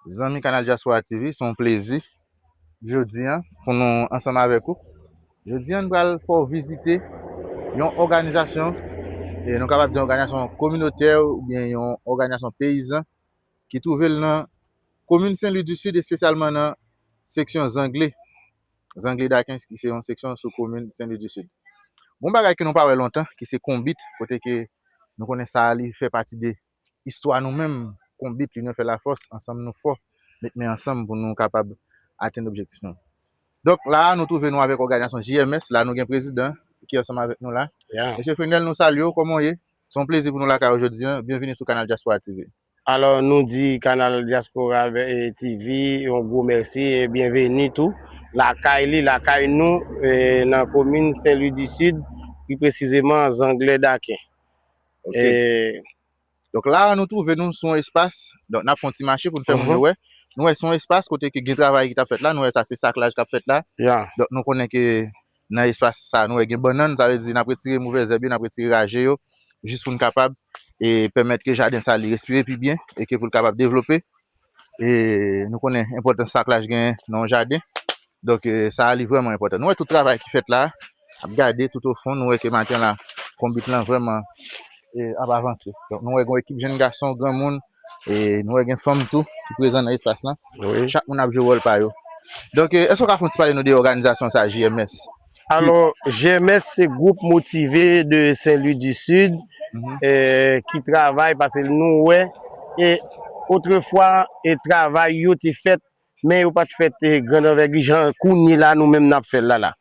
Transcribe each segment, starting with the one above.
Zanmi Kanal Dyaspora TV, se yon plezi jodi an pou nou ansanm avèk ou. Jodi an nou pral fè w vizite yon òganizasyon, e nou kapab di yon òganizasyon kominotè oubyen yon òganizasyon peyizan ki twouve l nan komin Sen Lwi di Sid espesyalman nan seksyon Zangle, Zangle Dakens ki se yon seksyon sou komin Sen Lwi di Sid. Gon bagay ke nou pa wè lontan ki se konbit kote ke nou konnen sa li fè pati de Istwa nou menm Konbit linyon fè lafòs ansanm nou fò met men ansanm pou nou kapab atenn objektif nou donk la a nou twouve nou avèk òganizasyon JMS la nou gen prezidan ki ansanm avèk nou la mesye Fenel nou salye w kòman w ye se yon plezi pou nou lakay ou jodi an byenvini sou kanal Dyaspora TV. Alò nou di kanal Dyaspora TV yon gwo mèsi e byenveni tou lakay li lakay nou nan komin Senlwi di Sid pi presizeman Zanglè Daken E, donk la a nou twouve nou sou yon espas, donk n ap fè yon ti mache pou nou fè moun yo wè, nou wè se yon espas kote ke gen travay ki t ap fèt la, nou wè sa se saklaj k ap fèt la, donk nou konnen ke nan espas sa a nou wè gen bannann, sa vle di n ap retire movè zèb yo, n ap retire raje yo, jis pou n kapab e pèmèt ke jaden sa a li respire pi byen e ke pou l kapab devlope. e nou konnen enpòtans sa klach gen nan yon jaden donk sa a li vrèman enpòtan nou wè tout travay ki fèt la a ap gade tout o fon nou wè ke maten la konbit lan vrèman e ap avanse donk nou wè gen yon ekip jenn gason granmoun e nou wè gen fanm tou ki prezan nan espas lan chak moun ap jwe wòl pa yo donk èske ou ka fè yon ti pale nou de òganizasyon sa a JMS. Alò, GMS se gwoup motive de Sen Lwi di Sid ki travay pase nou wè e otrefwa e travay yo te fèt men yo pat fèt grand anvègi jan kounye la nou menm n ap fè l la la.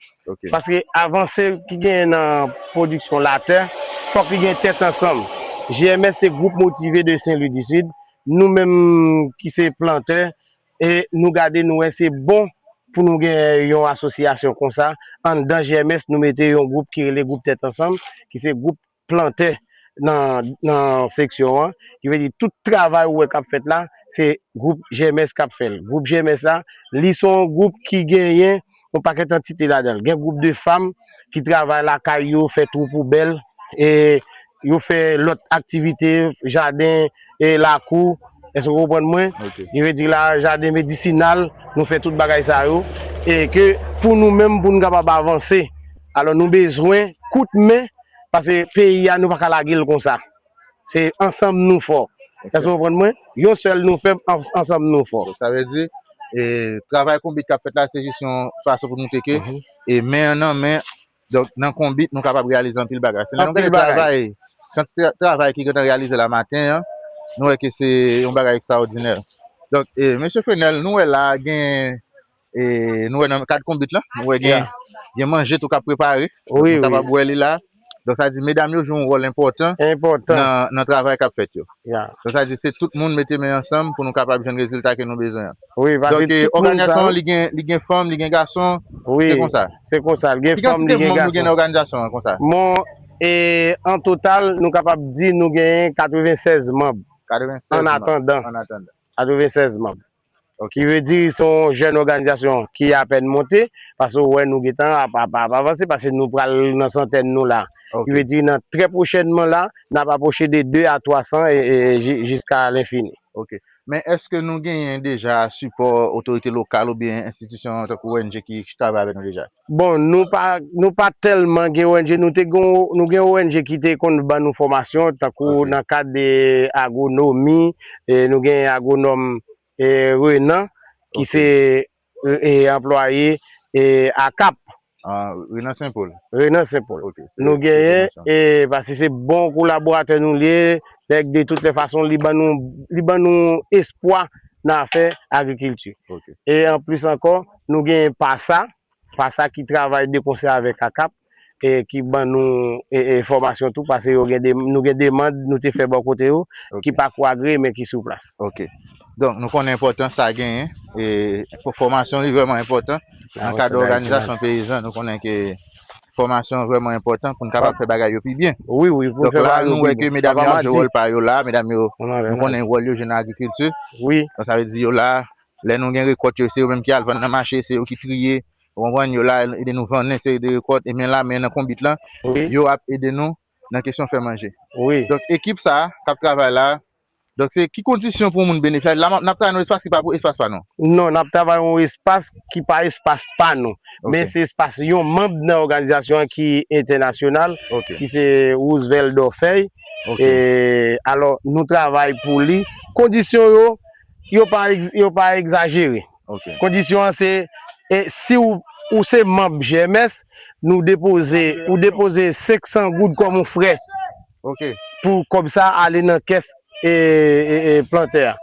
Paske avanse ki genyen nan pwodiksyon latè fòk li gen tèt ansanm. GMS se gwoup motive de Sen Lwi di Sid, nou menm ki se plantè e nou gade nou wè se bon pou nou gen yon asosyasyon konsa, anndan GMS nou mete yon gwoup ki rele gwoup tèt ansanm ki se gwoup plantè nan seksyon an, ki vle di tout travay ou wè kap fèt la se gwoup GMS kap fèl, gwoup GMS la li son gwoup ki genyen. yon pakèt antite ladan l. Gen gwoup de fanm ki travay lakay yo, fè twou poubèl, e yo fè lòt aktivite, jaden, e lakou, èske ou konprann mwen? Ki vle di la, jaden medisinal, nou fè tout bagay sa yo, e ke pou nou menm pou nou kapab avanse, alò nou bezwen kout men, pase peyi a nou pa ka lage l konsa. Se ansanm nou fò. Èske ou konprann mwen? Yon sèl nou fèb, ansanm nou fò. Sa vle di, travay konbit k ap fèt la se jis yon fason pou montre ke men nan men, donk nan konbit nou kapab reyalize anpil bagay. Se lè nou gade travay, kantite travay ki gen tan reyalize la maten an, nou wè ke se yon bagay ekstraòdinè. Donk, Mesye Fenel, nou wè la a gen. E nou wè nan kad konbit lan, nou wè gen gen manje tou kap prepare. Nou kapab wè li la. Donk sa di medam yo jwe yon wòl enpòtan nan travay kap fèt yo. Donk sa di se tout moun mete men ansanm pou nou kapab jwenn rezilta ke nou bezwen an. Donk òganizasyon an li gen fanm, li gen gason, se konsa. Se konsa, li gen fanm, li gen gason. Ki kantite manm nou gen nan òganizasyon an konsa? Bon, e an total nou kapab di nou genyen 96 manm. 96 manm. An atandan. An atandan. 96 manm. Ki vle di se yon jèn òganizasyon ki apèn monte, pase ou wè nou gentan ap avanse, pase nou pral nan santèn nou la. Ki vle di nan trè pwochènman la, n ap apwoche de 2 a 300 jiska lenfini. Ok. Men èske nou genyen deja sipò otorite lokal oubyen enstitisyon tankou ong ki travay avèk nou deja? Bon nou pa nou pa tèlman gen ong nou te gen nou gen ong ki te konn ban nou fòmasyon tankou nan kad de agronomi e nou gen agronòm e Renan ki se e anplwaye e akap Renan senpol Renan senpol nou genyen e pase se bon kolaboratè nou liye nèg de tout lè fason li ban nou li ban nou espwa nan afè agrikilti e anplis ankò. Nou gen pasa, pasa ki travay de konsè avèk akap, ki ban nou enfòmasyon tou, pase yo gen deman, nou gen deman nou te fè bò kote yo, ki pa ko agreye men ki sou plas. Ok. Donk nou konnen enpòtans sa genyen, e pou fòmasyon li vrèman enpòtan, nan kad òganizasyon peyizan, nou konnen ke fòmasyon vrèman enpòtan pou n kapab fè bagay yo pi byen. Wi, wi, pou n fè bagay yo pi byen. Donk la nou wè ke medam yo ap jwe wòl pa yo la, medam yo, nou konnen wòl yo jwenn nan agrikilti. Wi. Donk sa vle di yo la, Lè nou gen rekòt yo, se yo menm ki al vann nan mache, se yo ki triye, ou konprann, yo la ede nou vann yon seri de rekòt, ebyen la men nan konbit lan, yo ap ede nou nan kesyon fè manje. Donk ekip sa a k ap travay la a, donk se ki kondisyon pou yon moun benefisye a, la m ap travay nan yon espas ki pa pou espas pa nou? Non, n ap travay yon espas ki pa espas pa nou, men se espas yon manb nan òganizasyon an ki entènasyonal, ki se Roosevelt Dorfeuille, alò nou travay pou li, kondisyon yo, Yo pa egzajere. Kondisyon an se si ou se manb GMS, nou depoze, ou depoze 500 goud kòm yon frè pou kòb sa ale nan kès plantè a.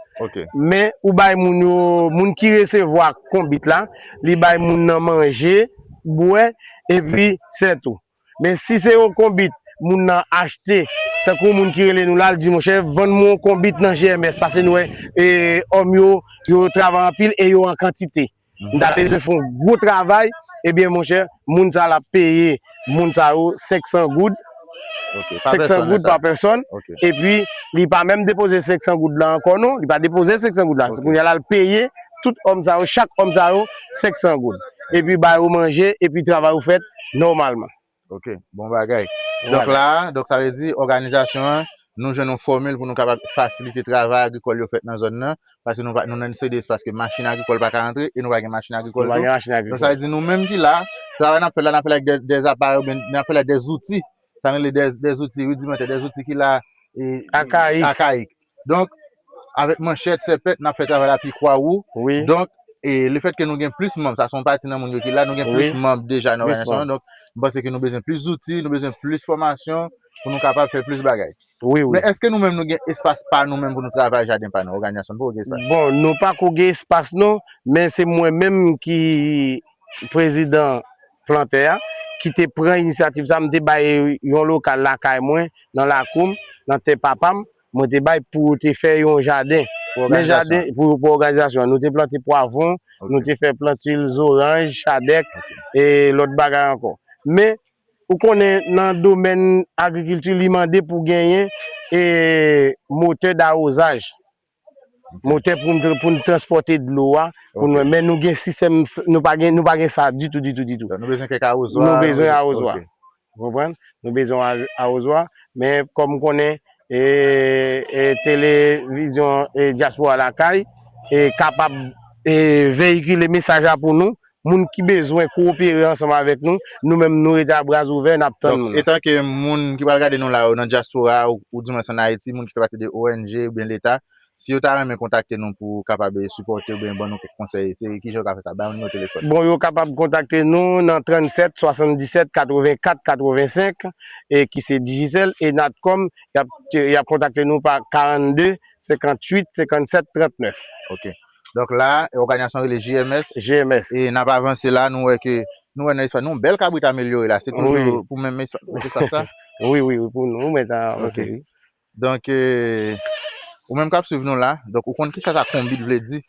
Men ou bay moun yo, moun ki resevwa konbit la, li bay moun nan manje, bwè, epi sè tou. Men si se yon konbit moun nan achte, tankou yon moun ki rele nou la, li di monchè vann mwen yon konbit nan GMS pase nou wè òm yo, yo travay anpil e yo an kantite. M ta bezwen fè yon gwo travay, ebyen monchè moun sa l ap peye moun sa yo 500 goud, 500 goud pa pèsòn, epi li pa menm depoze 500 goud la ankò non, li pa depoze 500 goud la, se kounya la l peye tout òm sa yo, chak òm sa yo 500 goud, epi ba yo manje, epi travay yo fèt. nòmalman. Ok, bon bagay. Donk la, donk sa vle di òganizasyon an, nou jwenn yon fòmil pou nou kapab fasilite travay agrikòl yo fèt nan zòn nan, paske nou pa nou nan yon seri de espas ke machin agrikòl pa ka rantre e nou pa gen machin agrikòl tou. Nou pa gen machin agrikòl. Donk sa vle di nou menm ki la, travay n ap fè la, n ap fè l avèk dè dè aparèy oubyen n ap fè l avèk dè zouti, sa nou rele dè zouti ridimantè, dè zouti ki la e akayik. donk avèk manchèt, sèpèt nap fè travay la pi kwa wou, donk e le fèt ke nou gen plis manb, sa son pati nan moun yo ki la, nou gen plis manb deja nan òganizasyon an, donk m panse ke nou bezwen plis zouti, nou bezwen plis fòmasyon pou nou kapab fè plis bagay. Men eske nou menm nou gen espas pa nou menm pou nou travay jaden pa nou, òganizasyon nou poko gen espas? Bon nou pako gen espas non, men se mwen menm ki prezidan plantè a ki te pran inisyativ sa, m te bay yon lokal lakay mwen, nan lakou m, nan tè papa m, mwen te bay pou yo te fè yon jaden. Pou òganizasyon an? Pou òganizasyon an. Nou te plante pwavwon, nou te fè plantil zoranj, chadèk, e lòt bagay ankò. Men, ou konnen nan domèn agrikilti li mande pou genyen motè dawozaj. Motè pou pou n transpòte dlo a pou nou men nou gen sistèm nou pa gen nou pa gen sa ditou ditou ditou nou bezwen kèk awozwa nou bezwen awozwa ou konprann nou bezwen yon awozwa men kòm ou konnen e televizyon dyaspora lakay e kapab veyikile mesaj la pou nou Moun ki bezwen kowopere ansanm avèk nou, nou menm nou rete a bra ouvè, n ap tann moun. Etanke moun ki pral gade nou la yo nan dyaspora a oudimwens ann Ayiti, moun ki fè pati de ong oubyen leta, si yo ta renmen kontakte nou pou kapab sipòte oubyen ban nou kèk konsèy, se kijan yo ka fè sa? Bay yon nimewo telefòn. Bon, yo kapab kontakte nou nan 37 77 84 85 e ki se Digicel e Natcom, y ap kontakte nou pa 42 58 57 39. Ok. Donk la a, òganizasyon rele GMS. GMS. E n ap avanse la a, nou wè ke, nou wè nan espas, nou yon bèl kabrit amelyore la a. Se toujou pou menm espas la? Wi, wi, wi, pou nou menm nan avanse wi. Donk, ou menm k ap swiv nou la a, donk ou konn kisa sa konbit vle di.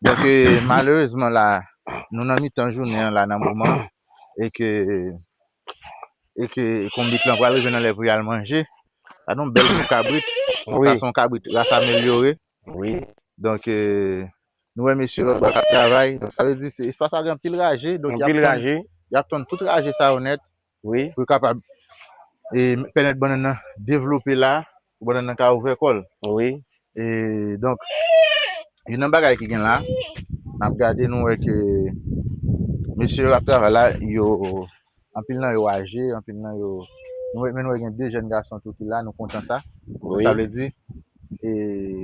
Donk, malerezman la a, nou nan mitan jounen an la nan moman an, e ke, e ke konbit lan pral rive nan lè pou y al manje. Gad yon bèl kou kabrit. Donk sa se yon kabrit ras amelyore. Wi donk nou wè mesye lòt bò kap travay donk sa vle di se espas la gen anpil raje donk yap anpil raje yap tonn tout raje sa yo nèt wi pou yo kapab e pèmèt bannann nan devlope la pou bannann nan ka ouvè kòl wi e donk youn nan bagay ki gen la nap gade nou wè ke mesye yo ap travay la yo Anpil nan yo aje, anpil nan yo, nou wè men nou wè gen 2 jèn gason tou ki la, nou kontan sa. Donk sa vle di e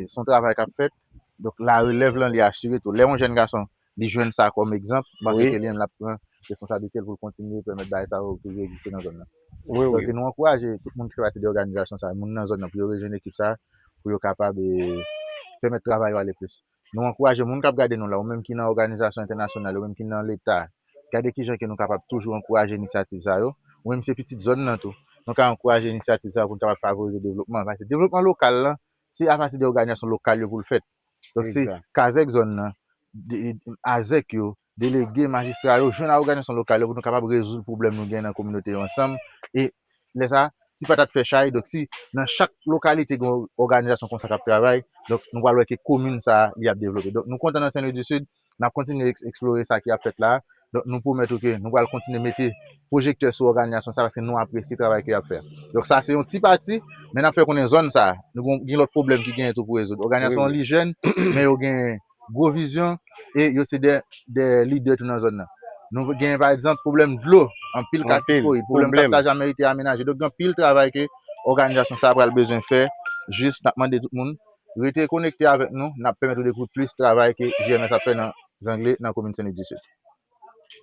s on travay k ap fèt, donk la relèv lan li asire tou. Lè yon jèn gason li jwenn sa kòm egzanp, m panse ke li menm l ap pran responsablite l pou l kontinye pèmèt bagay sa yo toujou egziste nan zòn nan. Donk nou ankouraje tout moun ki fè pati de òganizasyon sa a, moun nan zòn nan pou yo rejwenn ekip sa a pou yo kapab e pèmèt travay yo ale plis. Nou ankouraje moun k ap gade nou la, ou menm ki nan òganizasyon entènasyonal, ou menm ki nan leta, gade ki jan ke nou kapab toujou ankouraje inisyativ sa yo. Ou menm ki se pitit zòn nan tou, nou ka ankouraje inisyativ sa yo pou n kapab favorize devlopman an. Paske devlopman lokal lan, se apati de òganizasyon lokal yo pou l fèt. Donk se kazèk zòn nan, azèk yo, Delege, majistra yo, jwenn a oganizasyon lokal yo pou nou kapab rezoud pwoblèm nou gen nan kominote yo ansanm e lè sa ti patat fè chay donk si nan chak lokalite gen yon oganizasyon konsa kap travay donk nou pral wè ke komin sa li ap devlope donk nou kontan nan Sen Lwi di Sid nap kontinye eksplore sa ki ap fèt la donk nou pwomèt ou ke nou pral kontinye mete pwojektè sou oganizasyon sa paske nou apresye travay ke yap fè donk sa se yon ti pati men nap fè konnen zòn sa nou gen lòt pwoblèm ki genyen tou pou rezoud oganizasyon an li jèn men yo gen. gwo vizyon e yo se de lidè tou nan zòn nan. Nou gen pa egzanp pwoblèm dlo, anpil katye fouy, pwoblèm kap ta janmen rete amenaje. Donk gen anpil travay ke òganizasyon sa a pral bezwen fè, jis nap mande tout moun rete konekte avèk nou, nap pèmèt ou dekouvri plis travay ke JMS ap fè nan zangle nan komin Sen Louis du Sud.